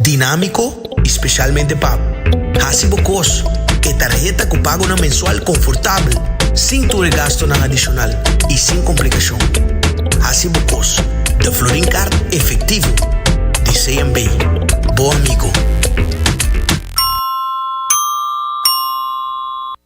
Dinámiko i spesialmente pa hasi bo kos ku e tarheta ku pagonan mensual konfortabel, sin tur e gastunan adishonal i sin komplikashon. Hasi bo kos den Florin Kart efektivo di CNB, bo amigo.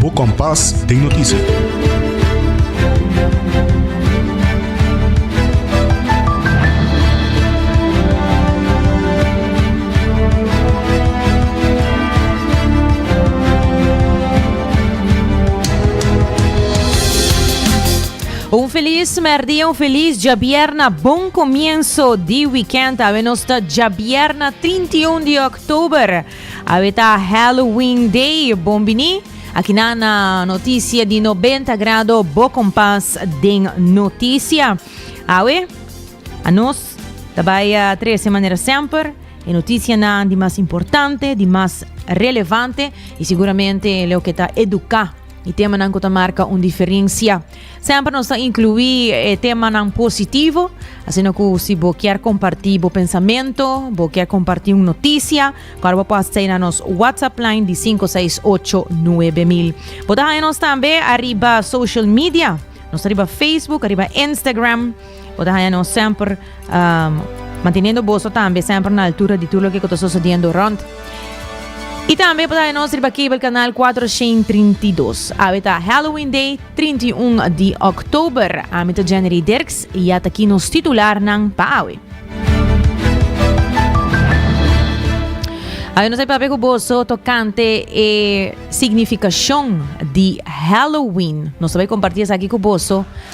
Bo kompas den notisia. Un feliz merdia, un feliz djabierna, bon comienzo di weekend. Awe nos ta djabierna 31 di oktober. Awe ta Halloween Day, bon bini. Aki nan na Noticia di Nobenta Grado, bo kompas den noticia. Awe, anos ta bai a trese manera semper e noticianan di mas importante, di mas relevante y siguramente loke ta educa. E temanan ku ta marka un diferensia. Semper nos ta inkluí e temanan positivo, asina ku si bo kier kompartí bo pensamentu, bo kier kompartí un notisia, kòrda bo por hasi sa na nos WhatsApp line di sinku seis ocho nuebe mil. Bo ta haña nos tambe ariba social media. Nos ta riba Facebook, ariba Instagram. Bo ta haña nos semper manteniendo boso tambe semper na altura di tur loke ku ta sosediendo rònt. I tambe bo ta haña nos riba cable kanal 432. Awe ta Halloween Day 31 di Oktober. Ami ta Jennery Dirks i ya ta ki nos titularnan pa awe. Awe nos a papia ku boso tokante e signifikashon di Halloween. Nos a bai kompartí esaki ku boso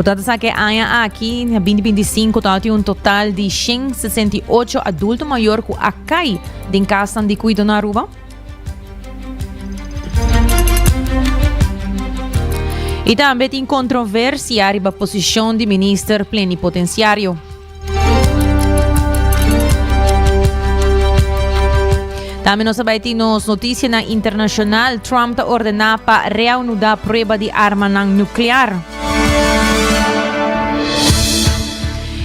Bo ta ta sa ke aña aki, na binti binti sinku, tabata tin un total di shen sesenta i ocho adulto mayor ku a kai den kasnan di kuido na Aruba? I tambe tin kontroversia riba posishon di minister plenipotensiario. Tambe nos a bai tin nos notisianan internashonal. Trump ta ordená pa reaunudá prueba di armanan nuklear.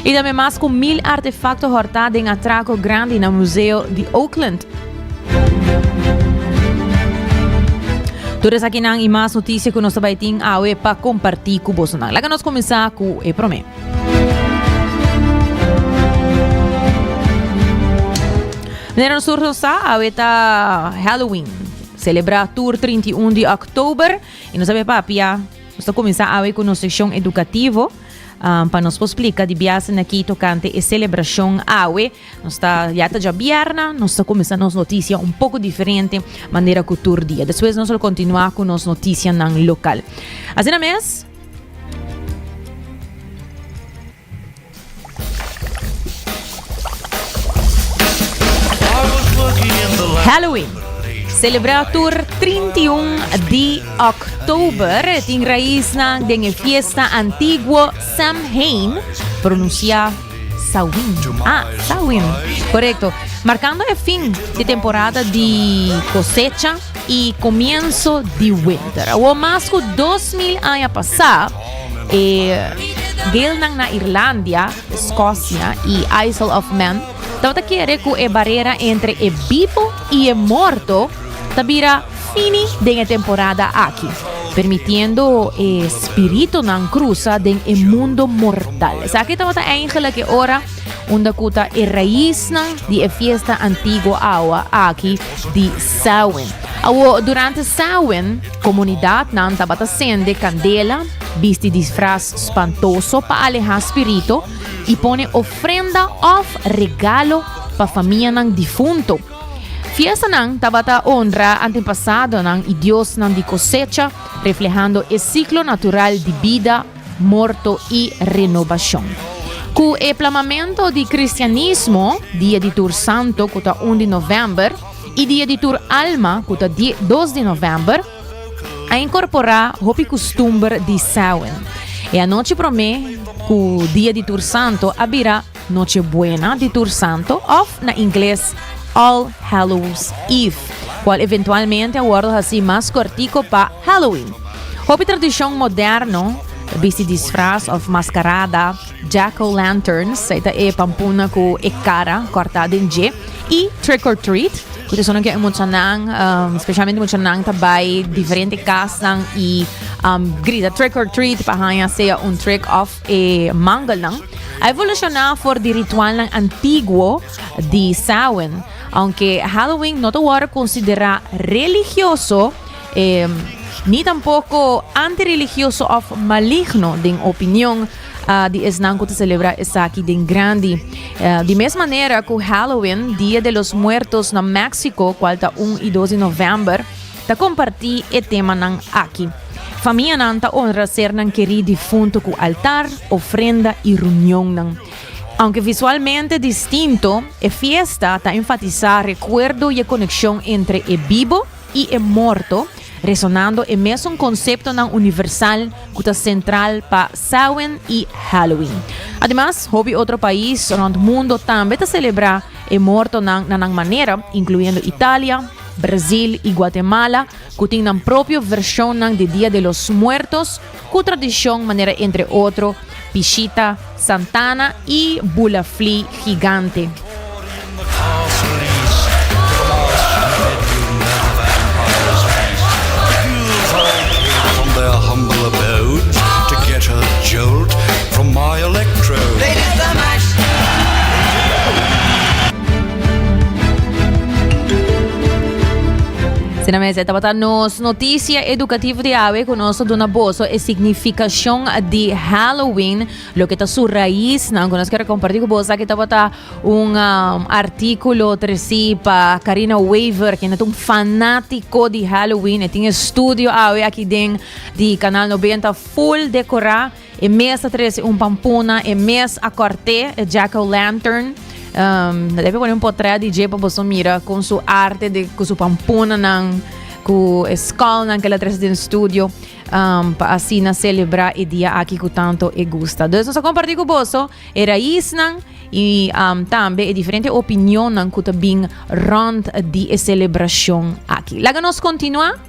I tambe mas ku mil artefakto hòrtá den atrako grandi na Museo di Oakland. Tur esakinan i mas notisia ku nos a bai tin awe pa kompartí ku bosonan. Laga nos kuminsá ku e promé. Meneer en Sur Rosa, awe ta Halloween. Celebra tur 31 di oktober. Y nos sabe papia, nos ta comenzá awe con nos sección educativo. Um, pa nos po explica di biase na ki tocante e celebracion awe. Nos ta, ya ta ja bierna, nos ta comenzá nos noticia un poco diferente manera cu tur dia. Despues nos lo continua cu nos noticia nan local. Asina mes, Halloween, selebrá tur trinti un di òktober, e tin raisnan den e fiesta antiguo Samhain, pronunsiá Sawin, a Sawin, korekto, markando e fin di temporada di kosecha. i komienso di winter. Awor mas ku dos mil aña pasá, e deelnan na Irlandia, Skosia i Isle of Man tabata kere ku e barera entre e bibo i e morto ta bira fini den e temporada aki, permitiendo e spiritunan krusa den e mundo mortal. Esaki tabata eingelik e ora unda ku ta e raisnan di e fiesta antiguo awa aki di Samhain. Awor, durante Samhain, comunidadnan tabata sende candela, bisti disfraz spantoso pa aleha spirito y pone ofrenda of regalo pa famianan difunto. Fiestanan tabata honra antepasadonan y diosnan di cosecha, reflehando e ciclo natural di bida, morto i renobashon. Ku e plamamentu di kristianismo, dia di tur santo ku ta un di novèmber i dia di tur alma ku ta di dos di novèmber, a inkorporá hopi kustumber di Samhain. E anochi promé ku dia di tur santo a bira. Noche Buena di tur Santo òf na ingles All Hallows Eve, kual eventualmente a wòrdu hasí mas kòrtiko pa Halloween. Hopi tradishon modèrno, bisti disfras òf maskarada, jack-o'-lanterns, ei ta e pampuna ku e kara kòrtá den dje, i Trick or Treat, ku ta sona ku e muchanan, speshalmente muchanan, ta bai diferente kasnan i grita Trick or Treat pa haña sea un trick òf E mangelnan a evolucioná for di ritualnan antiguo di Samhain. Aunke Halloween no ta wòrdu konsiderá religioso, ni tampoko anti-religioso òf maligno den opinion di esnan ku ta selebrá esaki den grandi. Di mes manera ku Halloween, Dia de los Muertos na Méksiko, kual ta un i dos di novèmber, ta comparti e temanan aki. Famianan ta honra sernan keri difunto cu altar, ofrenda y reunionnan. Aunque visualmente distinto, e fiesta ta enfatisa recuerdo y e conexion entre e bibo y e morto, resonando e mesun conceptonan universal cu ta central pa Samhain y Halloween. Ademas, hopi otro pais rond mundo tambe ta celebra e mortonan na nan manera, incluyendo Italia, Brazil i Guatemala, ku tin nan propio vershonnan di Dia de los Muertos ku tradishon manera entre otro Pishita, Santana i Bulafli Gigante. Asina mes, e tabata nos noticia educativo di awe cu nos ta duna boso e significacion di Halloween, lo que ta su raiz nan cu nos quiere comparti cu boso. Aquí tabata un um, artículo treci pa Karina Weaver, que es un fanático di Halloween, e tiene estudio awe aquí den di Canal 90 full decorá. E mes ta trece un pampuna, e mes a corte, e Jack O' Lantern. Um, no debe poner un portret di J pa boso mira con su arte, de, con su pampuna nan, con e skull nan que la trece den studio, um, pa asina celebra e dia aki cu tanto e gusta. Dus nos a comparti cu boso e raiz nan y um, tambe e diferente opinion nan cu ta bin rond di e celebracion aki. Laga nos continua.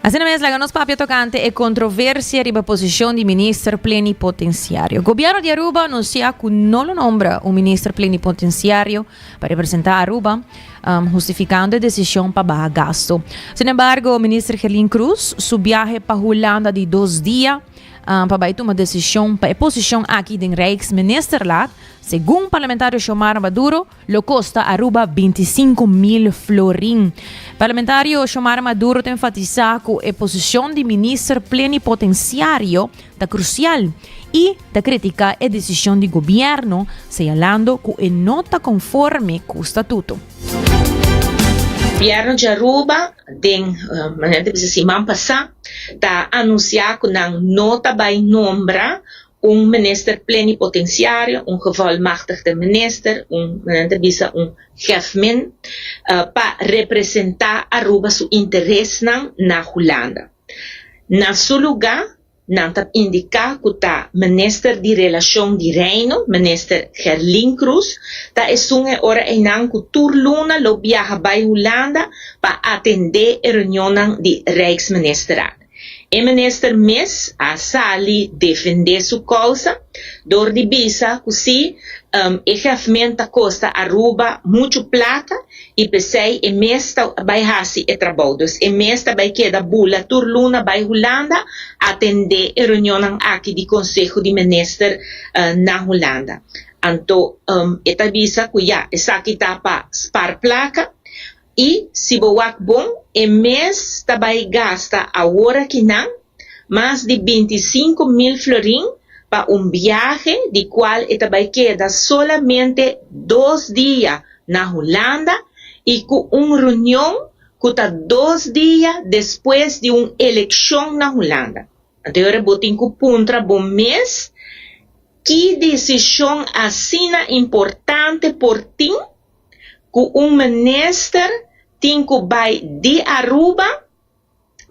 Asina mes laga nos papia tokante e kontroversia riba posishon di Minister Plenipotensiario. Gobièrnu di Aruba anunsiá ku no lo nombra un Minister Plenipotensiario pa representá Aruba, hustifikando e desishon pa baha gastu. Sin embargo, Minister Gerlin Cruz su biahe pa Hulanda di dos dia pa bai tuma desishon pa e posishon aki den Rijksministerlaat, segun Parlamentario Xiomara Maduro, Lo kosta Aruba binti sinku mil florin. Parlamentario Xiomara Maduro ta enfatisá ku e posishon di Minister Plenipotensiario ta krusial i ta kritiká e desishon di gobièrnu, seyalando ku e no ta konforme ku statuto. Gobièrnu di Aruba den mañana ta bisa siman pasá ta anunsiá ku nan no ta bai nombra Un minister plenipotenciario, un gevolmachtigde minister, un, nan ta bisa un chefmin, pa representa Aruba su interesnan na Hulanda. Na su luga, nan ta indica cu ta Minister di Relacion di Reino, Minister Gerlin Croes, ta esun e ora eynan cu tur luna lo biaha bay Hulanda pa atende e reunionnan di Rijksministerraad. E minister mes a sali defende su kousa dor di bisa ku si e gèfment ta kosta Aruba muchu plata i p'esei e mes ta bai hasi e trabou. Dus e mes ta bai keda bula tur luna bai Hulanda atendé e reunionnan aki di konseho di minister na Hulanda. Anto e ta bisa ku ya esaki ta pa sparplaka. I si bo wak bon, e mes ta bai gasta awora ki nan mas di binti i sinku mil florin pa un biahe di kual e ta bai keda solamente dos dia na Hulanda i ku un reunion ku ta dos dia despues di un elekshon na Hulanda. Anteora bo tin ku puntra bo mes, Ki disishon asina importante por tin? ku un minister tin ku bai di Aruba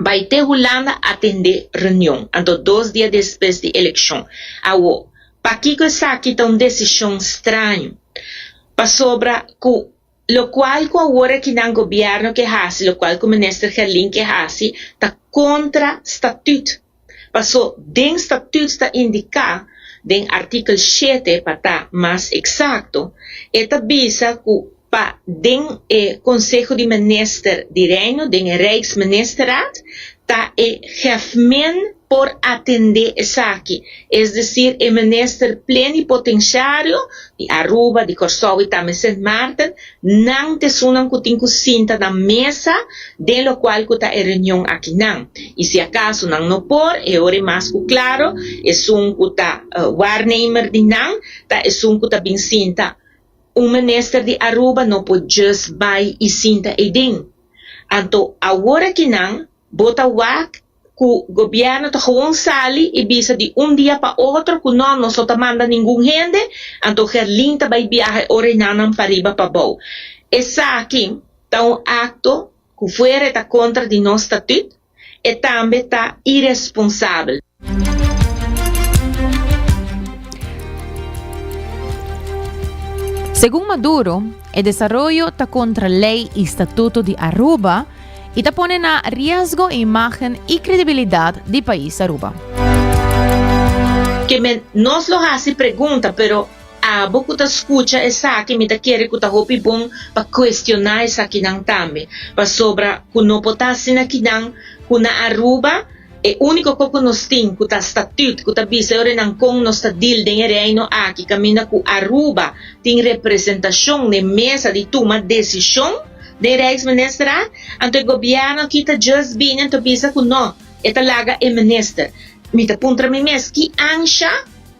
bai te Hulanda atendé reunion anto dos dia despues di elekshon. Awo, pakiko esaki ta un desishon straño? Pasobra ku lokual ku awor aki nan gobièrnu ke hasi, lokual ku minister Gelin ke hasi ta kontra statùt. Paso den statut ta indica den artikel shete pa ta mas exacto e ta bisa cu pa den e Conseho di Minister di Reino den e Rijksministerraad ta e Hèfmin por atende esaki, es decir e Minister Plenipotenciario di Aruba, di Corsou y ta Sint Maarten Nan t'e esunnan ku tin ku sinta na mesa den lokual ku ta e reunion akinan. I si akaso nan no por, e ora i mas ku klaro, esun ku ta waarnemer di nan, ta esun ku ta bin sinta. Un minister di Aruba no por djes bai i sinta ey den. Anto awor akinan, bo ta wak? cu gobierno ta gewoon sali y bisa di un dia pa otro cu no, nos no ta manda ningun hende, anto Gerlin ta bay biaha e orenanan pariba pabou. Esaki ta un acto cu fuera e ta contra di nos statut, e tambe ta iresponsabel. Segun Maduro, e desaroyo ta contra ley y statuto di Aruba, y ta pone na riesgo imagen y credibilidad di pais Aruba. Keme nos lo hasi pregunta, pero abo ku ta skucha esaki mi ta kere ku ta hopi bon pa kuestioná esakinan tambe, pasobra ku no por ta asina kinan ku na Aruba E úniko kos ku nos tin ku ta statüt ku ta bisa e orenan kon nos ta dil den e Reino aki kaminda ku Aruba tin representashon n'e mesa di tuma desishon den Rijksministerraad. Anto e gobièrnu aki ta djis bini anto bisa ku nò e ta laga e minister. Mi ta puntra mi mes, ki ansha?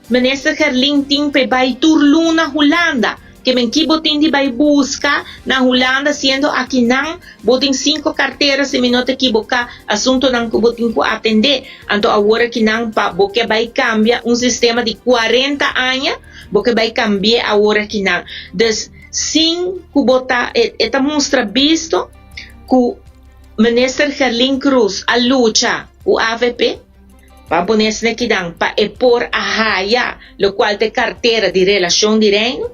Minister Gerlin tin p'e bai tur luna Hulanda. Ke men ki bo tin di bai buska na Hulanda siendo aki nan bo tin sinku kartera si mi no ta ekiboká asuntonan ku bo tin ku atendé. Anto awor ki nan pa bo ke bai kambia un sistema di kuarenta aña bo ke bai kambi'é awor aki nan. Dus sin ku bo ta e ta mustra bisto ku Minister Gerlin Cruz a lucha ku avp. Pa pone esne kinan pa e por a haya lo cual ta e cartera di Relacion di Reino,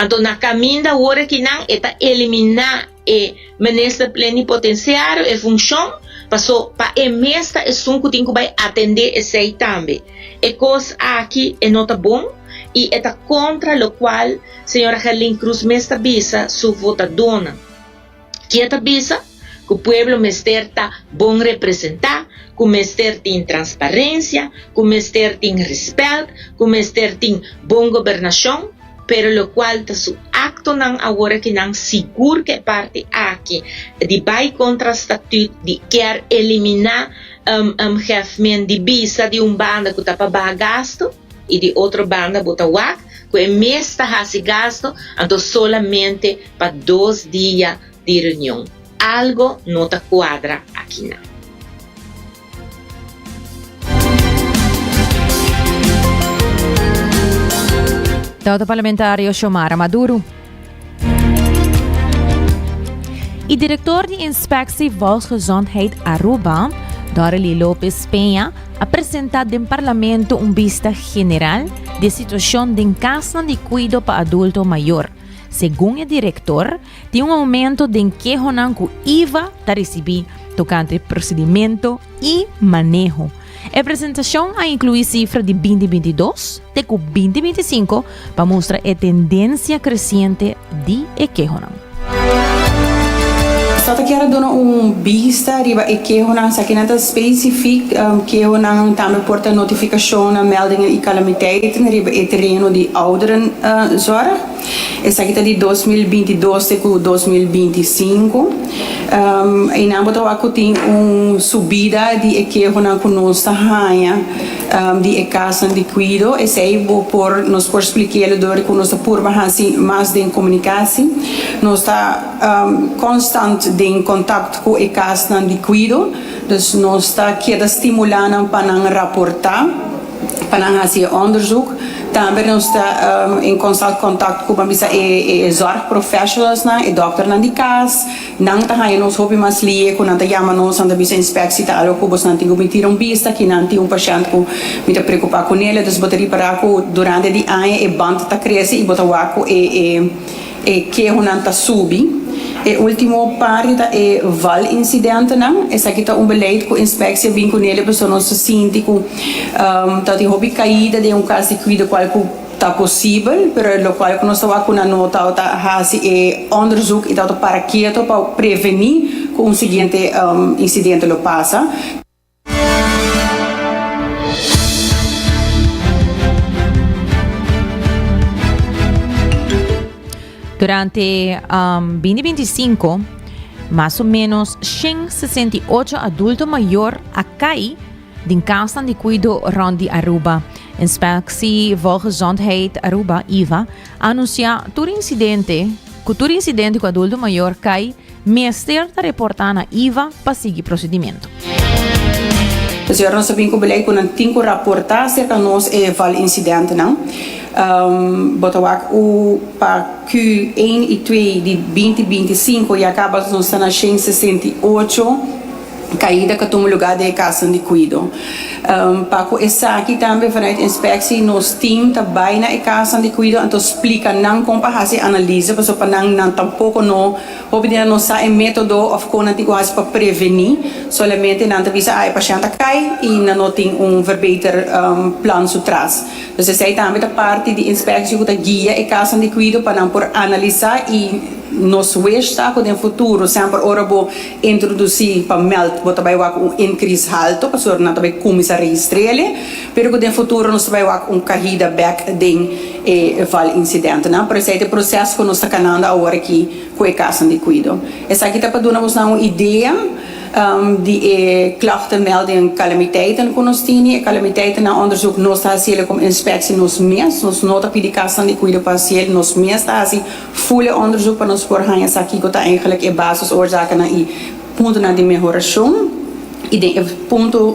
anto na caminda ora kinan e ta elimina e Minister Plenipotenciario e funcion, paso pa e mes ta esun cu tin cu bay atende esey tambe. E cos aki e no ta bon y e ta contra lo cual Sra. Gerlin Cruz mes ta bisa su votadonan. Kia ta bisa ku pueblo mester ta bon representá, ku mester tin transparensia, ku mester tin respèlt, ku mester tin bon gobernashon, pero lokual ta su aktonan awor aki nan sigur ku e parti aki di bai kontra statüt di kier eliminá hèfmien di bisa di un banda ku ta pa baha gastu, y di otro banda bo ta wak cu e mes ta haci gasto anto solamente pa dos dia di reunion. Algo no ta cuadra aki na. Tawata Parlamentario Xiomara Maduro. E director di Inspectie Volksgezondheid Aruba, Dorely Lopez Peña, a presenta den Parlamento un bista general di e situacion den casnan di cuido pa adulto mayor. Segun e director, tin un aumento den kehonan cu iva ta ricibi tocante procedimento y maneho. E presentashon a inkluí sifra di binti binti dos te ku binti binti sinku pa mustra e tendensia kresiente di e kehonan. Sa ta kere duna un bista riba e kehonan, sa kinan ta spesifik kehonan tambe por ta notifikashonnan, meldingen i kalamiteit riba e tereno di ouderenzorg. Esaki ta di dos mil binti i dos te ku dos mil binti i sinku. Einan bo ta wak ku tin un subida di e kehonan ku nos ta haña di e kasnan di kuido. Esei bo por, nos por splik'é lo dor di ku nos ta purba hasi mas den komunikasi. Nos ta konstant den kontakt ku e kasnan di kuido, dus nos ta keda stimulá nan pa nan raportá. pa nan hasi e onderzoek. Tambe nos ta en konstant kontakt ku, ban bisa, e zorg professionalsnan, e dòkternan di kas. Nan ta haña nos hopi mas lie ku nan ta yama nos, nan ta bisa inspeksi ta algo ku bosnan tin ku bin tira un bista aki nan tin un pashènt ku mi ta preokupá ku nele. Dus bo ta ripará ku durante di aña e band ta krese i bo ta wak ku e. E kehonan ta subi. E ultimo par di ta e val-incidentenan. Esaki ta un beleid cu inspectie a bin cu nele pasobra nos ta sinti cu ta tin hopi caida den un cas di cuida cual cu ta posibel, pero locual cu nos tawaku nan no tawata haci e onderzoek y tawata para keto pa preveni cu un siguiente incidente lo pasa. Durante bindi binti i sinku, mas o ménos shen sesenta i ocho adulto mayor a kai den kasnan di kuido rònt di Aruba. Inspeksi Volgezondheid Aruba, IVA, a anunsiá tur insidente ku tur insidente ku adulto mayor kai Mester ta reportá na iva pa sigui prosedimentu. Ta siñor nos ta bin ku belei ku nan tin ku raportá aserka nos e val insidentenan. Bo ta wak u pa Q ein i twee di binti binti i sinku ya kaba nos ta na shen sesenta i ocho. Caida ca tuma lugar den e casanan di cuido. Pa cu esaki tambe vanuit inspectie nos team ta bay na e casanan di cuido anto splica nan con pa haci e analise pasobra pa nan nan tampoco no hopi di nan no sa e metodo of con nan tin cu haci pa preveni solamente nan ta bisa ah e pashent a cay y nan no tin un verbeter plan su tras dus esey tambe ta parti di inspectie cu ta guia e casanan di cuido pa nan por analisa y nos wish ta cu den futuro semper ora bo Introduci pa meld bo ta bay wak un increase halto pasobra nan ta bay cuminsa registrele pero cu den futuro nos ta bay wak un cahida bek den e val incidentenan por esey ta e proces cu nos ta cananda awor aki cu e casonan di cuido. Esaki ta pa duna bos nan un idea di e klachtenmelding calamiteiten cu nos tini. E calamiteiten nan onderzoek nos ta hacele como inspectie nos mes, nos no ta pidi casonan di cuido pa haciel, nos mes ta haci. Full e onderzoek pa nos por haña sa kiko ta eigenlijk e basis oorzakennan i puntonan di mehorashon. I den e punto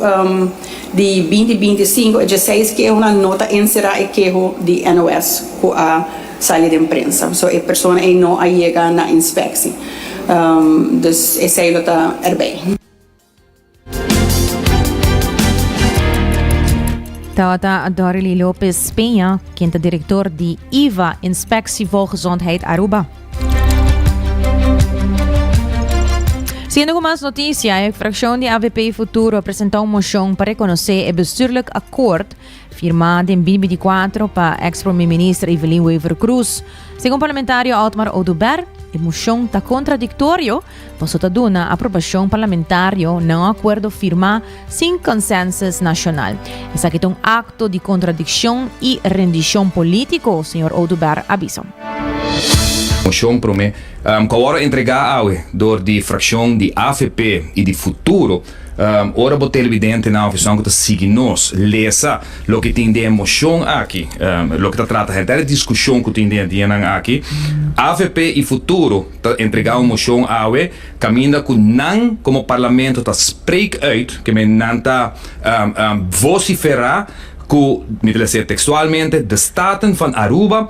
di binti binti i sinku e dieseis kehonan no ta enserá e keho di NOS ku a sali den prensa. So e persona ei no a yega na inspeksie. Dus esei lo ta erbei. Tabata Dorely Lopez Peña, quien ta director di IVA, Inspectie Volgezondheid Aruba. Siendo con más noticia, e fracción di AVP Futuro presenta un moción para reconocer e bestuurlijk akkoord Firmá den bibi di kuater pa eks Prome Minister Evelyn Wever Croes. Segun parlamentario Otmar Oduber, e moshon ta kontradiktorio paso ta duna aprobashon parlamentario na un akuerdo firmá sin konsensus nashonal. Esaki ta un akto di kontradikshon i rendishon polítiko, señor Oduber a bisa. Moshon Prome ku awor a entregá awe dor di frakshon di avp i di Futuro Ora bo televidentenan òf esun ku ta sigui nos, lesa loke tin den e moshon aki, loke ta trata hèr. Ta e diskushon ku tin den e dianan aki. Avp i Futuro ta entregá un moshon awe kaminda ku nan komo parlamento ta spreek uit, ke men nan ta vosiferá ku, mi ta lese tekstualmente, de staten van Aruba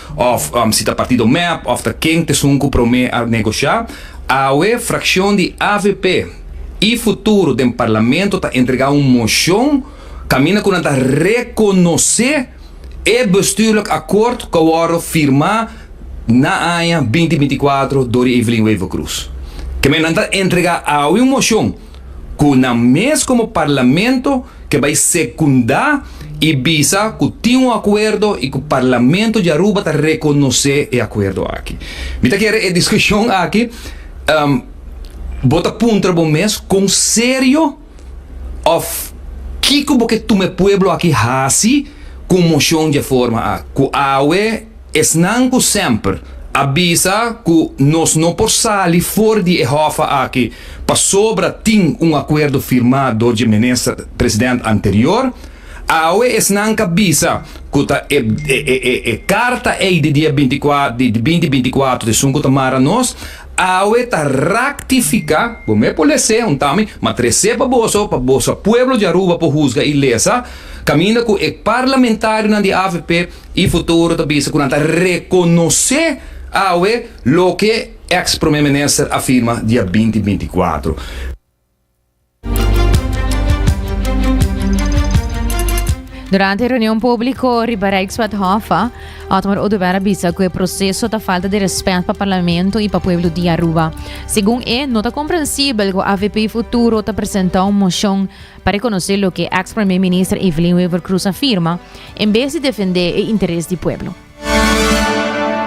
Òf si ta partido mep òf ta ken t'esun ku promé a negosha, awe frakshon di avp i Futuro den parlamento ta entregá un moshon kaminda ku nan ta rekonosé e bestuurlik akòrt ku a wòrdu firmá na aña binti binti kuater dor di Evelyn Wever-Croes. Kemey nan ta entregá awe un moshon. cu nan mes como Parlamento ke bay secunda y bisa cu tin un acuerdo y cu Parlamento di Aruba ta reconoce e acuerdo aki. Mi ta kere e discusion aki bo ta puntra bo mes con serio of kico bo ke tuma e pueblo aki haci cu un mocion di e forma aki cu awe Esnan cu semper a bisa cu nos no por sali for di e hòfa aki pasobra tin un acuerdo firmá dor dje minister president anterior, awe esnan ca bisa cu ta e e carta ey di dia binti cuatro di binti binti cuatro di esun cu ta mara nos, awe ta ractificá, bo mey por lesé un tami, ma tresé pa boso pa boso pueblo di Aruba por huzga y lesa, caminda cu e parlamentarionan di avp. E futuro ta bisa cu nan ta reconoce awe loke ex Prome Minister a firma dia binti binti cuatro. Durante e reunion publico riba Rijkswethof, Otmar Oduber a bisa cu e proceso ta falta di respet pa Parlamento y pa pueblo di Aruba. Segun e, no ta comprensibel cu avp Futuro ta presenta un mocion Pa rekonosé loke èks Premé Minister Evelyn Wever Croes a firma, en bes di defendé e interes di pueblo.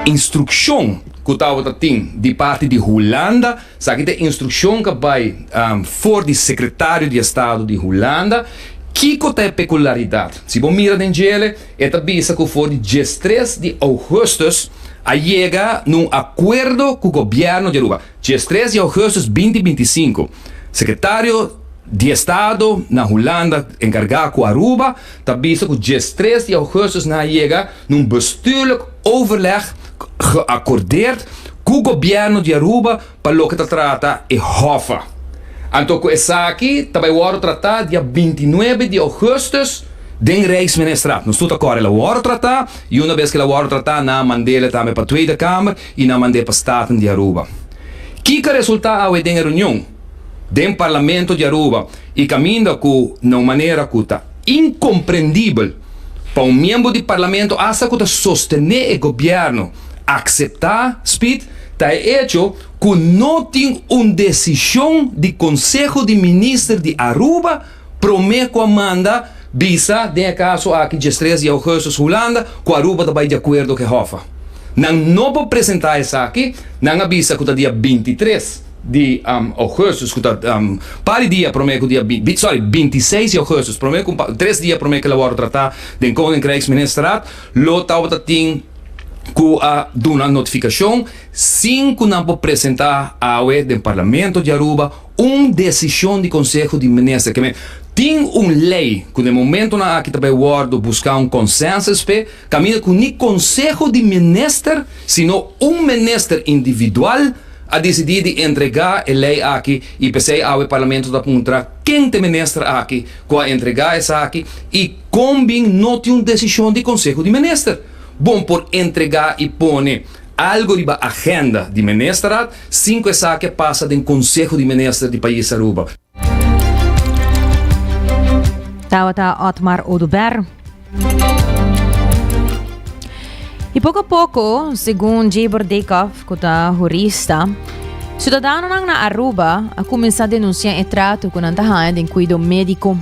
Instrukshon ku tabata tin di parti di Hulanda, sa aki ta e instrukshon ka bai for di Sekretario di Estado di Hulanda. Kiko ta e pekularidat? Si bo mira den djele, e ta bisa ku for di diestres di ougùstùs a yega na un akuerdo ku gobièrnu di Aruba. Dje stres di ougustus binti binti i sinku, Sekretario di Estado na Hulanda enkargá ku Aruba ta bisa ku dje stres di ougustus nan a yega na un bestuurlijk overleg geacordeerd ku gobièrnu di Aruba pa loke ta trata e hòffa. Anto ku esaki ta bai wòrdu tratá dia binti i nuebe di ougustus den Rijksministraat. Nos tur ta kòrel a wòrdu tratá i una bes ke el a wòrdu tratá nan a mand'el tambe pa Tweede Kamer. y nan mand'é pa Staten di Aruba. Kiko a resultá awe den e reunion den Parlamento di Aruba y caminda cu na un manera cu ta incomprendibel pa un miembro di Parlamento hasta cu ta sostené e gobierno aceptá, Speed, ta e hecho cu no tin un decision di Conseho di Minister di Aruba, Promé ku a manda bisa den e kaso aki Jestrees Jougheuses Hulanda ku Aruba ta bai di akuerdo ku e hòf a. Nan no por presentá esaki, nan a bisa ku ta dia binti tres di Ougustus ku ta par di dia promé ku dia binti sòri binti i seis di Ougustus promé ku tres dia promé ku el a wòrdu tratá den Koninkrijksministerraad lo taubata tin ku a duna notifikashon sin ku nan por presentá awe den Parlamento di Aruba Un desishon di konseho di minister ke men tin un lei ku den momentunan aki ta bay wòrdu buska un konsensus p'e, kaminda ku ni konseho di minister sino un minister individual a disidí di entregá e lei aki i p'esei awe parlamento ta puntra ken t'e minister aki ku a entregá esaki i kon bin no tin un desishon di konseho di minister bon por entregá i pone algu riba agenda di ministerat. Sinku esaki a pasa den Konseho di Minister di pais Aruba. Tabata Otmar Oduber. I poko a poko, segun Jabor Dikov ku ta hurista, siudadanonan na Aruba a kuminsá denunsiá e trato ku nan ta haña den kuido médiko.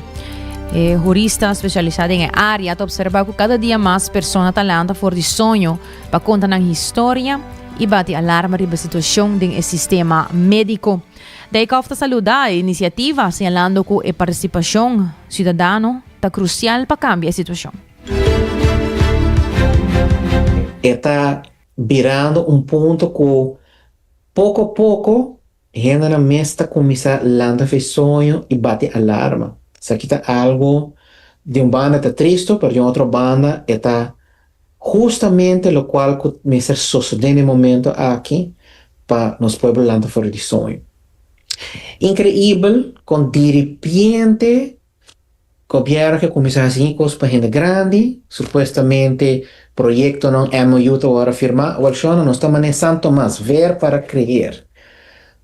E hurista spesialisá den e área ta opservá ku kada dia mas persona ta lanta for di soño, pa konta nan historia i bati alarma riba situashon den e sistema médiko. Dijkhoff ta saluda e inisiativa, señalando ku e partisipashon siudadano ta krusial pa kambia e situashon. E ta birando un punto ku poko poko Hendenan mes ta kuminsá lanta fe soño i bati alarma. Esaki ta algu di un banda ta tristu, pero di un otro banda e ta hustamente lokual ku mester sosodé na e momentu aki pa nos pueblo lanta for di soño. Inkreibel kon diripiente Gobierno ke kuminsá hasi kin kos pa hende grandi, supuestamente proyektonan MOU ta wòrdu firmá, wèl shona nos ta manera San Tomas, ver para creer.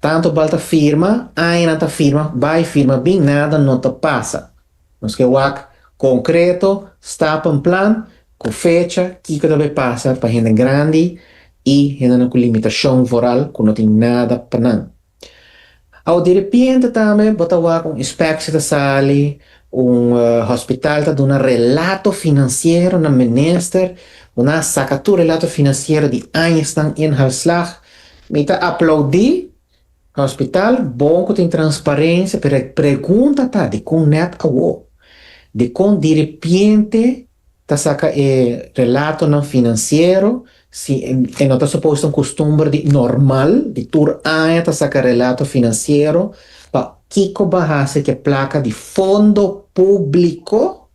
Tantu bal ta firma, añanan ta firma, bai firma bin nada no ta pasa. Nos ke wak konkreto, stappen plan ku fecha kiko ta por pasa pa hende grandi i hendenan ku limitashon voral ku no tin nada pa nan. Awa direpente tambe bo ta wak un inspekshi ta sali, un hospital ta duna relato finansiero na minister, bo na a saka tur relato finansiero di añasnan i inhaalslag. Mi ta aplaudí hospital bon ku tin transparensia, pero e pregunta ta dikon nèt awo? Dikon direpente Ta saca e relatonan financiero, si e no ta suposto un costumber di normal di tur aña ta saca relato financiero, pa kico ba haci cu e placa di fondo publico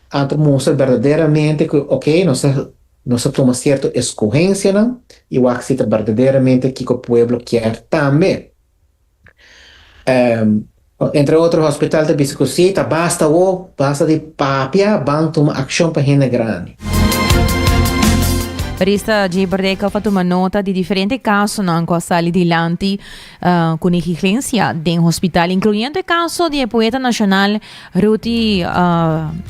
anto mustra berdaderamente cu ok nos a nos a tuma cierto escogencianan y wak si ta berdaderamente kico pueblo kier tambe. Entre otro hospital ta bisa cu si, ta basta awo, basta di papia, ban tuma accion pa hende grandi. Barista Jay Berdeka pa tuma nota di diferente casonan cu a sali dilanti cu negligencia den hospital, incluyendo e caso di e poeta nacional Ruti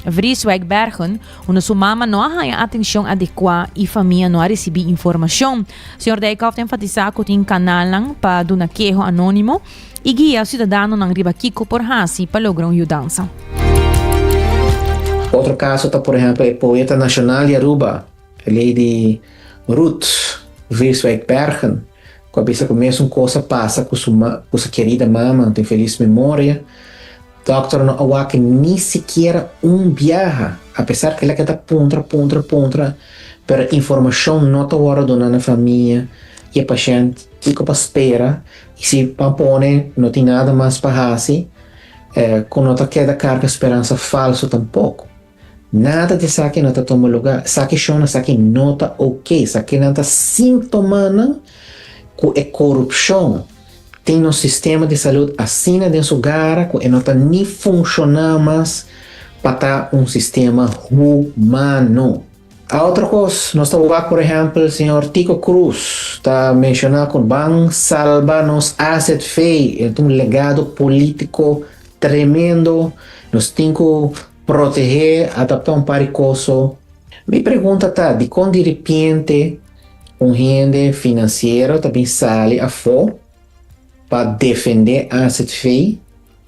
Vrieswijk Bergen, unda su mama no a haya atencion adecua y famia no a ricibi informacion. Señor Dijkhoff ta enfatisa cu tin canalnan pa duna keho anónimo y guia ciudadanonan riba kico por haci pa logra un yudansa. Otro caso ta por ehempel e poeta nacional di Aruba, e lady Ruth Vreeswijk Bergen, cu a bisa cu mesun cosa pasa cu su kerida mama, cu tin feliz memoria, Dòkter no awaki ni sikiera un biaha, apesar kila ke ta puntra, puntra, puntra, pero informashon no ta wòrdu duna na famia i e pashènt kiko pa spera i si pan pone no tin nada mas pa hasi ku no ta keda karga speransa falsu tampoko. Nada di esaki no ta tuma lugá. Esaki shon, esaki no ta ok. Esakinan ta simptomanan ku e korupshon tin nos sistema di salud asina den su gara ku e no ta ni funshoná mas pa ta un sistema humano. Otro kos, nos ta wak por ehèmpel señor Tico Cruz ta menshoná ku ban salba nos AZV. E ta un legado polítiko tremendo. Nos tin ku Protehe a ta un par di cos so. Mi pregunta ta dicon di repiente un hende financiero ta bin sali afo pa defende AZV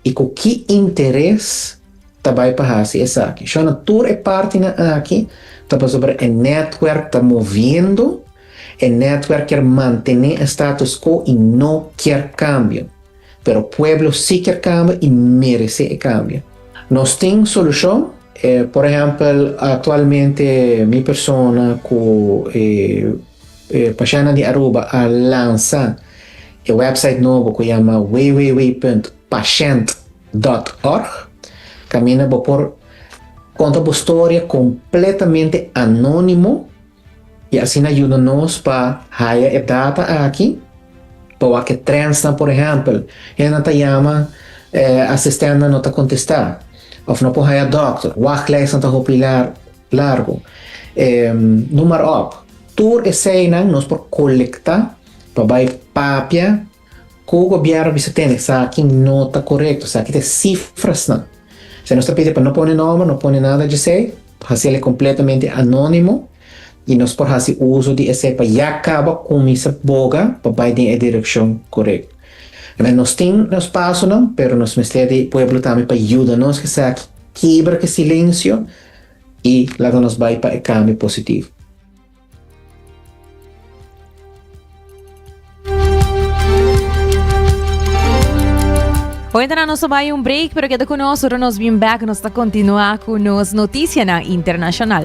y cu ki interes ta bay pa haci esaki? Shon a tur e partinan aki ta pasobra e netwerk ta moviendo, e netwerk kier mantene e status quo y no kier cambio. pero pueblo si kier cambio y merece e cambio. Nos tin solucion, e por ehempel actualmente mi persona cu e e Pashana di Aruba a lansa e website nobo cu yama www.pashant dot org, caminda bo por conta bo storia completamente anonimo, I asina yuda nos pa haya e data aki pa wak e trendsnan, por ehèmpel, hendenan ta yama, e asistentnan no ta kontestá, òf no por haya dòkter, wachtlèisnan ta hopi largu, e noem maar op. Tur eseinan nos por kolektá pa bai papia. Ku gobièrnu bisa tene esaki no ta korekto, esaki ta e sifrasnan. Se nos ta pidi pa no pone nòmber, no pone nada djesei, hasi el e kompletamente anónimo i nos por hasi uso di esei pa ya kaba kuminsa boga pa bai den e direkshon korekto. Bai, nos tin nos pasonan, pero nos mester di pueblo tambe pa yuda nos ku esaki, kebra ku e silensio i laga nos bai pa e kambio positivo. Hoentra nos ta bai un break, pero keda ku nos, ora nos bin back, nos ta kontinua ku nos notisianan internashonal.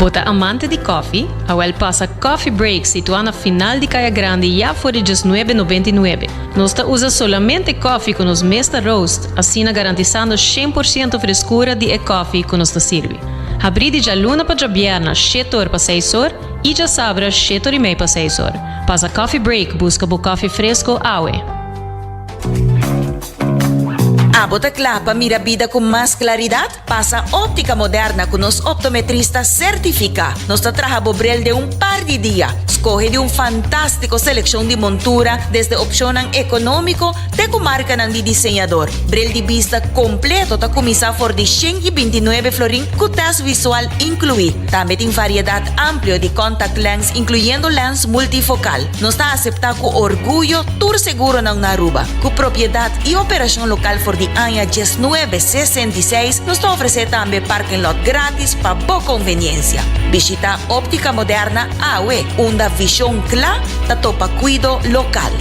Bo ta amante di kòfi? Awèl pasa Coffee Break situá na final di Kaya Grandi ya for di djes nuebe nobenta i nuebe. Nos ta usa solamente kòfi ku nos mes ta roast, asina garantisando shen por siento freskura di e kòfi ku nos ta sirbi. Habrí di djaluna pa djabièrna shete or pa seis or i djasabra shete or i mei pa seis or. Pasa Coffee Break buska bo kòfi fresko awe! Abo ta kla pa mira bida ku mas klaridat? Pasa Óptica Moderna ku nos optometrista sertifiká. Nos ta traha bo bril den un par di dia. Skohe di un fantástiko selekshon di montura, desde opshonnan ekonómiko te ku markanan di diseñador. Bril di bista kompleto ta kuminsá for di shen i binti nuebe florin ku tèst visual inkluí. Tambe tin variedat amplio di kòntaktlenz, inkluyendo lèns multifokal. Nos ta aseptá ku orguyo tur seguronan na Aruba. Ku propiedat i operashon lokal for di aña djes nuebe sesenta i seis, nos ta ofresé tambe parking lot gratis pa bo konveniensia. Bishitá Óptica Moderna awe, unda vishon kla ta topa kuido lokal.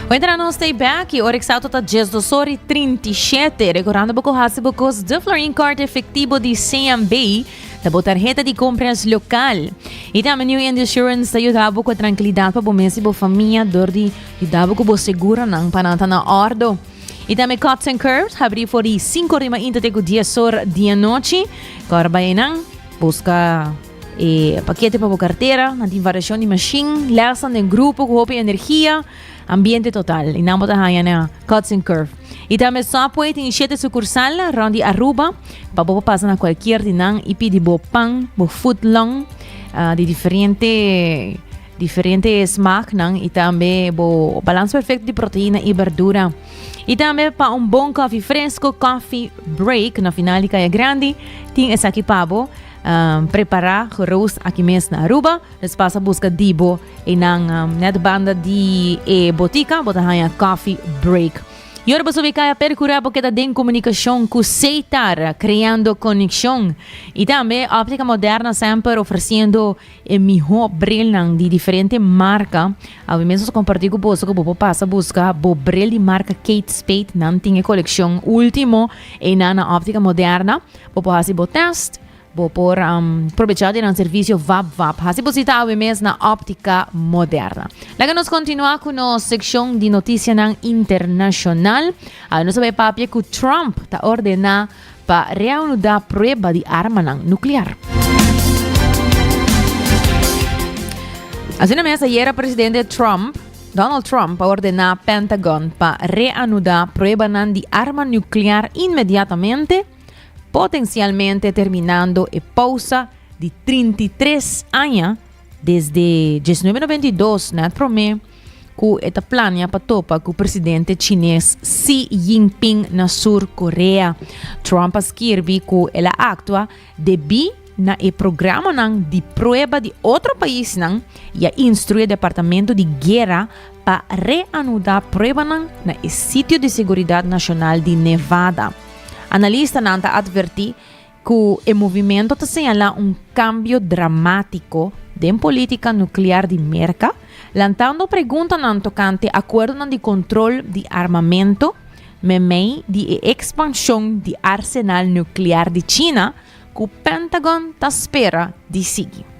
Wentra nos stay back y ora exacto ta 10 dos hora y 37. Recordando boco hace bocos de Florin Card efectivo di CMB. ta bo tarjeta di compras local. Y también New End Insurance ta ayuda bo con tranquilidad pa bo mes y bo familia door di ayuda bo con bo seguro nan pa nan ta na ordo. Y tambe Cuts and Curves habrí for di cinco ri mainta te cu dies or di anochi. Cor bay enan, busca e paquete pa bo cartera. Nan tin variacion di machine, lessen den grupo cu hopi energia, ambiente total. Y nan bo ta haya na Cuts and Curves. Y tambe Subway tin siete sucursal rond di Aruba pa bo pa pasa na cualkier di nan y pidi bo pan, bo foot long ah, di diferente. diferente e smaknan i tambe bo balans perfekto di proteina i berdura. I tambe pa un bon kofi fresko, kofi break na final di Kaya Grandi, tin esaki pa bo um, prepara geroost aki mes na Aruba, dus pasa buska dibo e nan um, net banda di e botika, bo ta haya kofi break. Y ahora paso kaya percura bo queda den comunicación cu Seitar, creando conexión. Y también óptica moderna siempre ofreciendo e mihó brelnan di diferente marka. Awe mes nos a kompartí ku boso ku bo por pasa buska bo brel di marka Kate Spade. Nan tin e kolekshon último einan na Óptica Moderna. Bo por hasi bo tèst, bo por um, probechá di nan servisio vap vap. Hasi bo sita awe mes na Óptica Moderna. Laga nos kontinuá ku nos sekshon di notisianan internashonal. Awe nos a bai papia ku Trump ta ordená Pa reanuda prueba di armanan nuklear. Asina mes ayera presidente Trump, Donald Trump, a ordena Pentagon pa reanuda pruebanan di arma nuklear inmediatamente, potensialmente terminando e pausa di 33 aña Desde diesnuebe noventa i dos, na e promé ku e ta plania pa topa ku presidente chines Xi Jinping na Sur Korea, Trump a skirbi ku el a aktua debí na e programanan di prueba di otro paisnan i a instrué Departamento di Guera pa reanudá pruebanan na e sitio di seguridat nashonal di Nevada. Analistanan ta atvertí Ku e movimento ta señalá un kambio dramátiko den polítika nuklear di Merka, lantando preguntanan tokante akuerdonan di kontrol di armamento meimei di e ekspanshon di arsenal nuklear di China ku Pentagon ta spera di sigui.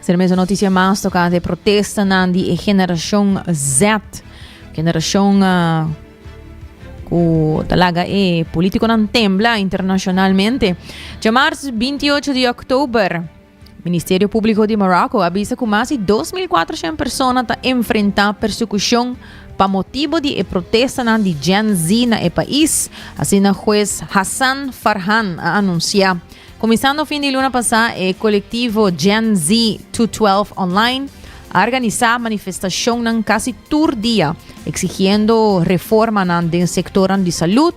Ser mes noticia mas tocante protestanan di e generacion Z. Generacion uh, cu talaga e politico nan tembla internacionalmente. Jamars 28 de oktober, Ministerio Público de Morocco avisa cu más de 2.400 personas ta enfrenta persecucion pa motibo di e protestanan di Gen Z na e país. Así na juez Hassan Farhan a anuncia. Kuminsando fin di luna pasá e kolektivo Gen Z 212 Online a organisá manifestashonnan kasi tur dia eksigiendo reformanan den sektornan di salud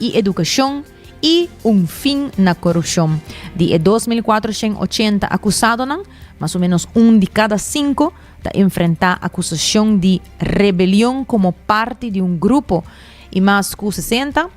i edukashon i un fin na korupshon. Di e dos mil kuatroshen ochenta akusadonan, mas o menos un di kada sinku ta enfrentá akusashon di rebelion komo parti di un grupo i mas ku sesenta,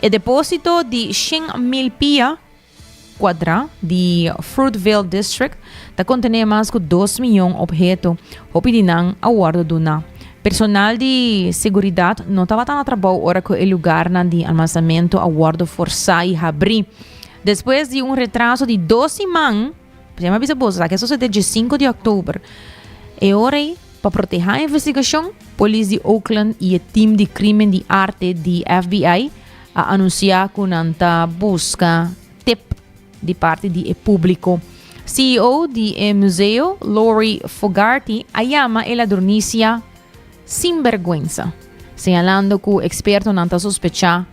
E depósito di shen mil pia kuadrá di Fruitvale District ta kontené mas ku dos miyon opheto. Hopi di nan a wòrdu duná. Personal di seguridat no tabata na trabou ora ku e lugarnan di almansamentu a wòrdu forsá i habrí. Despues di un retraso di dos siman, PresidenteMa bisa boso sa ke sosodé dje sinku di òktober. E ora ei, pa protehá e investigashon, polis di Oakland i e tim di Krimen di Arte di FBI a anunsiá ku nan ta buska tep di parti di e públiko. CEO di e museo, Lori Fogarty, a yama e ladronisia sinbèrgwensa, señalando ku ekspertonan ta sospechá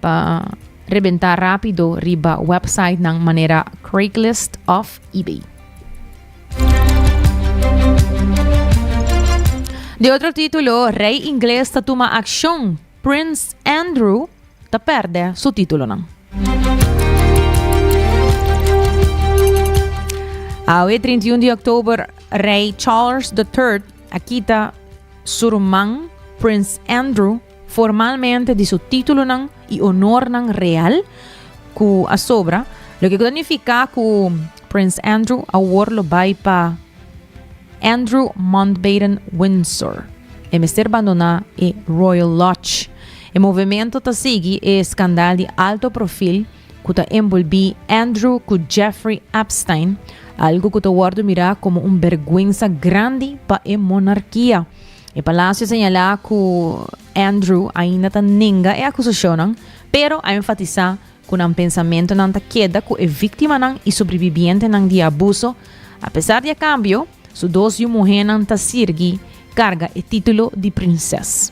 Pa rebentá rápido riba websitenan manera Craigslist of eBay. De otro título, rey inglés ta tuma acción. Prince Andrew ta perde su títulonan. Awe 31 de oktober, rey Charles III a kita su ruman Prince Andrew formalmente di su títulonan i onornan real ku a sobra, loke ku ta nifiká ku Prins Andrew awor lo bai pa Andrew Mountbatten-Windsor. E mester bandoná e Royal Lodge. E movementu ta sigui e skandal di alto profil ku ta enbolbí Andrew ku Jeffrey Epstein, algu ku ta wòrdu mirá komo un bèrgwensa grandi pa e monarkia. E Palacio señala cu Andrew ainda ta nenga e acusacionan, pero a enfatisa cu nan pensamentonan ta keda cu e víctimanan y sobrevivientenan di abuso. A pesar di e cambio, su dos yu muhénan ta sirgi carga e título di prinses.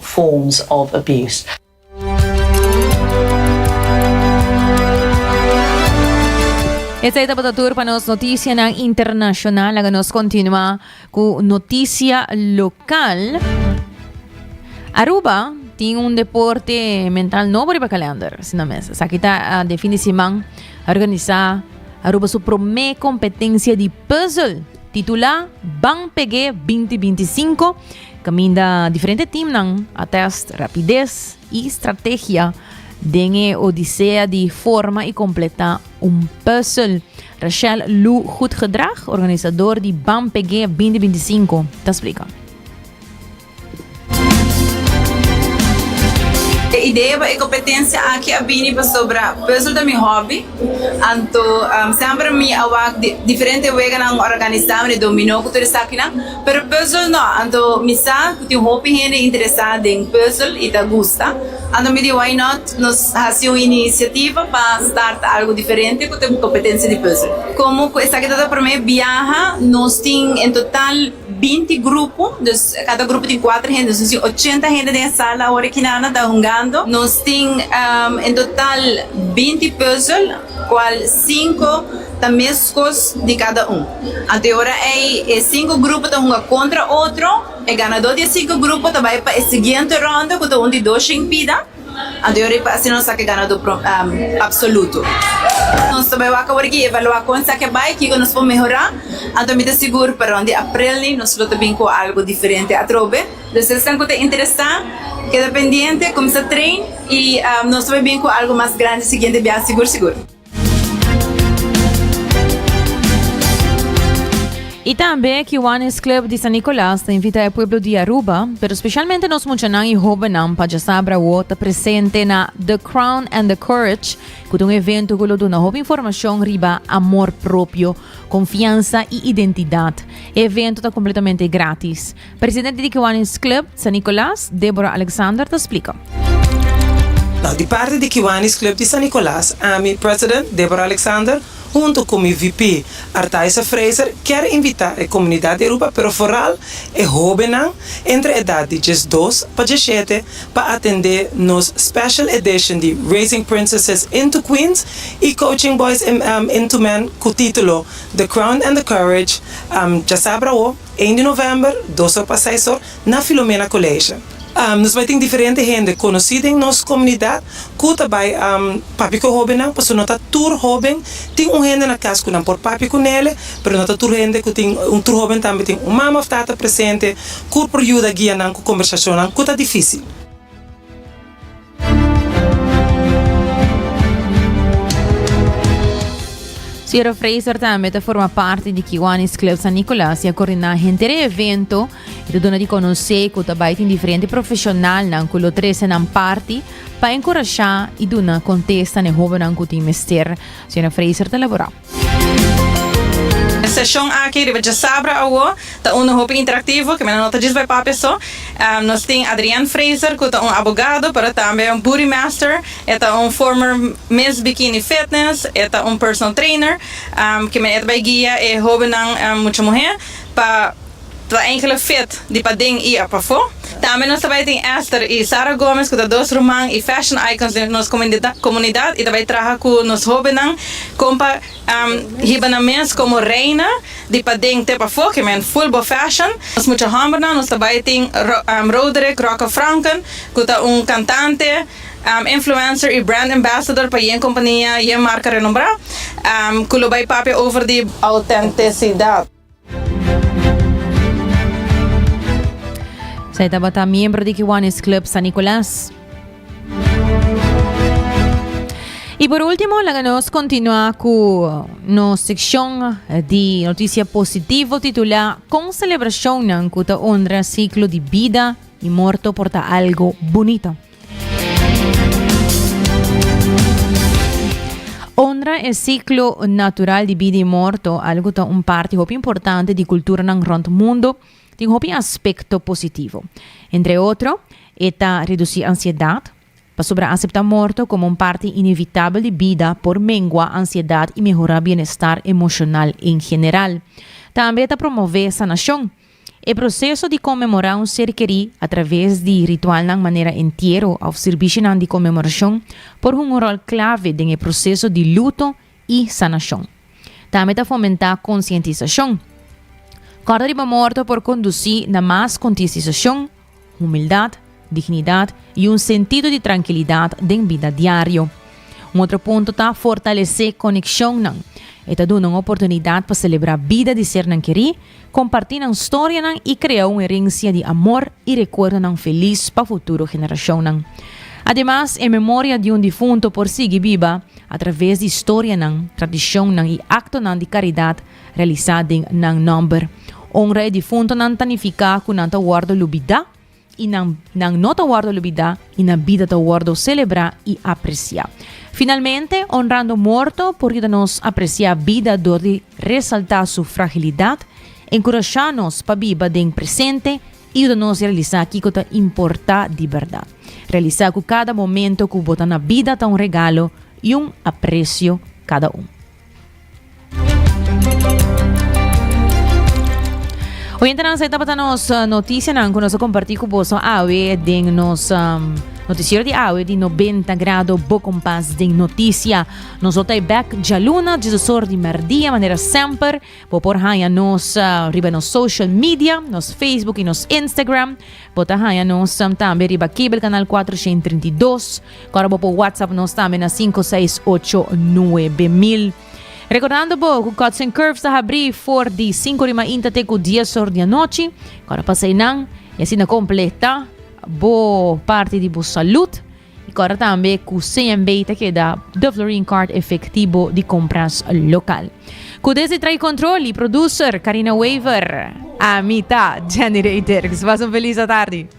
forms of abuse. Esei tabata tur pa nos notisianan internashonal. Laga nos kontinua ku notisia lokal. Aruba tin un deporte mental nobo riba kalender, si nan mes. Esaki ta ah, den fin di siman organisá Aruba su promé kompetensia di puzzle titulá Ban Peg'é 2025. Caminda diferente teamnan a test rapidez y strategia den e odisea di forma y completa un puzzel. Rachel Lu Goedgedrag, organisador di BAM PG 2025, ta explica. E idea pa e competencia aki a bini pasobra puzzel ta mi hobby, anto semper mi a wak diferente weganan organisa, mira, dominó cu tur esaki nan. Pero puzzel no, anto mi sa cu tin un hopi hende interesa den puzzel y ta gusta. Anto mi di why not nos haci un iniciativa pa start algo diferente cu ta un competencia di puzzel. Como cu esaki ta ta prome biaha nos tin en total binti grupo, dus cada grupo tin cuater hende, nos tin ochenta hende den e sala awor aki nan ta hungando. Nos tin en total binti puzzel. Cual cinco ta mescos di cada un. Anto e ora ey e cinco grupo ta hunga contra otro, e ganador di e cinco grupo ta bay pa e siguiente ronda cu ta un di dos shin pida, anto e ora ey pa asina nos saca e ganador pro, absoluto. Nos ta bay wak awor aki evalua con esaki a bay, kico nos por mehora, anto mi ta sigur pa rond di April ni nos lo ta bin cu algo diferente atrobe. Los esnan cu ta interesá keda pendiente, cuminsa train y nos ta bai bien cu algo mas grandi siguiente biaha sigur sigur. Y tambe Kiwanis Club di San Nicolas ta invita e pueblo di Aruba, pero specialmente nos muchanan y hobennan pa djasabra awor ta presente na The Crown and the Courage, cu ta un evento cu lo duna hopi informacion riba amor propio, confiansa y identidad. E evento ta completamente gratis. Presidente di Kiwanis Club San Nicolas, Deborah Alexander ta splika. Nau di parti di Kiwanis Club di San Nicolas, ami, President Deborah Alexander, hunto ku mi VP, Artaisa Fraser, kier invitá e komunidat di Aruba pero foral e hóbennan entre edat di djes dos pa djes shete pa atendé nos Special Edition di Raising Princesses into Queens i Coaching Boys into Men ku título The Crown and the Courage, Djasabra Awo. Einde november, dos or pa seis or, na Filomena College. Nos bai tin diferente hende conoci den nos comunidad cu ta bai papia cu e hobennan, pasobra no ta tur hoben, tin un hende na cas cu nan por papia cu nele, pero no ta tur hende cu tin, tur hoben tambe tin un mama of tata presente cu por yuda guia nan cu conversacionnan cu ta dificil. Sierra Fraser tambe ta forma parte di Kiwanis Club San Nicolas y a coordina hentere evento y ta duna di conoce cu ta bai tin diferente profesionalnan cu lo trece nan parti pa encouraja y duna contesta ne hobennan cu tin mester. Sierra Fraser ta labora. E seshon aki riba Djasabra awo ta unda hopi interaktivo ke mira no ta djis bai papia so. Nos tin Adrian Fraser ku ta un abogado pero tambe un booty master, e ta un former Miss Bikini Fitness, e ta un personal trainer ke mira e ta bai guia e hobennan mucha muhé pa. Tra enkele fit di paden y apafo. Tambe nos ta bay tin Esther y Sara Gomez cu ta dos ruman y fashion icons den nos comunidad y ta bay traha cu nos hobennan con pa hiba nan mes como reina di paden te pafo ke men full bo fashion. Nos mucha hombernan nos ta bay tin Roderick Rocka Franken cu ta un cantante, influencer y brand ambassador pa yen compania, yen marca renombra cu lo bay papia over di autenticidad. Esei tabata miembro di Kiwanis Club San Nicolas. Y por último, laga nos continua cu no sección di noticia positivo titula Con celebracionnan cu ta honra ciclo di bida y morto por ta algo bonito. Honra e siklo natural di bida i morto, algu ku ta un parti hopi importante di kulturanan rònt mundu, tin hopi aspekto positivo. Entre otro, e ta redusí ansiedat, pasobra aseptá morto komo un parti inevitabel di bida por mengua ansiedat i mehorá bienestar emoshonal en general. Tambe ta promové sanashon. E proseso di konmemorá un ser kerí atraves di ritualnan manera entiero òf sirbishinan di konmemorashon por hunga un ròl klave den e proseso di luto i sanashon. Tambe ta fomentá konsientisashon. Kòrda riba morto por kondusí na mas kontisisashon, Humildat, dignidat i un sentido di trankilidat den bida diario. Un otro punto ta fortalesé konekshonnan. E ta duna un oportunidat pa selebrá bida di sernan kerí, kompartí nan storianan i krea un herensia di amor i rekuerdonan felis pa futuro generashonnan. Ademas, e memoria di un difunto por sigui biba atraves di storianan, tradishonnan i aktonan di karidat realisá den nan nòmber. Onra e difuntonan ta nifiká ku nan ta wòrdu lubidá i nan nan no ta wòrdu lubidá i nan bida ta wòrdu selebrá i apresiá. Finalmente, onrando morto por yuda nos apresiá bida dor di resaltá su fragilidat, enkurashá nos pa biba den presente i yuda nos realisá kiko ta importá di bèrdat. Realisá ku kada momentu ku bo ta na bida ta un regalo i un apresio kada un. Oyentenan, esei tabata nos uh, noticianan ku nos komparti ku boso awe den nos um, noticiero di awe di 90 grado bo kompas den noticia. Nos otay back jaluna, jesusor di merdia, manera semper. Bo por haya nos uh, riba nos social media, nos Facebook i nos Instagram. Bo ta haya nos um, tambe riba cable canal 432. Kòrda bo por whatsapp nos tambe na sinku seis ocho nuebe mil. Rekordando bo ku Cuts and Curves ta habrí for di sinku di mainta te ku dies or di anochi. Kòrda pasa einan i asina kompletá bo parti di bo salud. I kòrda tambe ku CMB ta keda Duflurine Card efektibo di kompras lokal. Ku desdi Trae Control i producer Karina Wever. Ami ta Jenny Reyderks. Pas un felis atardi.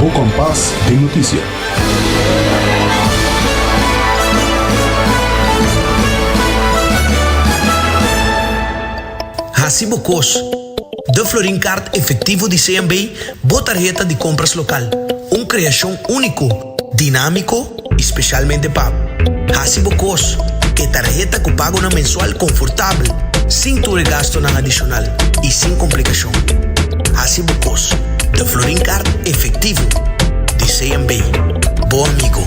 Bo kompas den notisia. Hasi bo kos. Da Florin Kaart Efektivo di CMB bo tarheta di kompras lokal, un kreashon úniko. dinámiko i spesialmente pa hasi bo kos ku e tarheta ku pagonan mensual konfortabel, sin tur e gastunan adishonal i sin komplikashon. Hasi bo kos The Florin Kaart efektivo di CMB, bo amigo!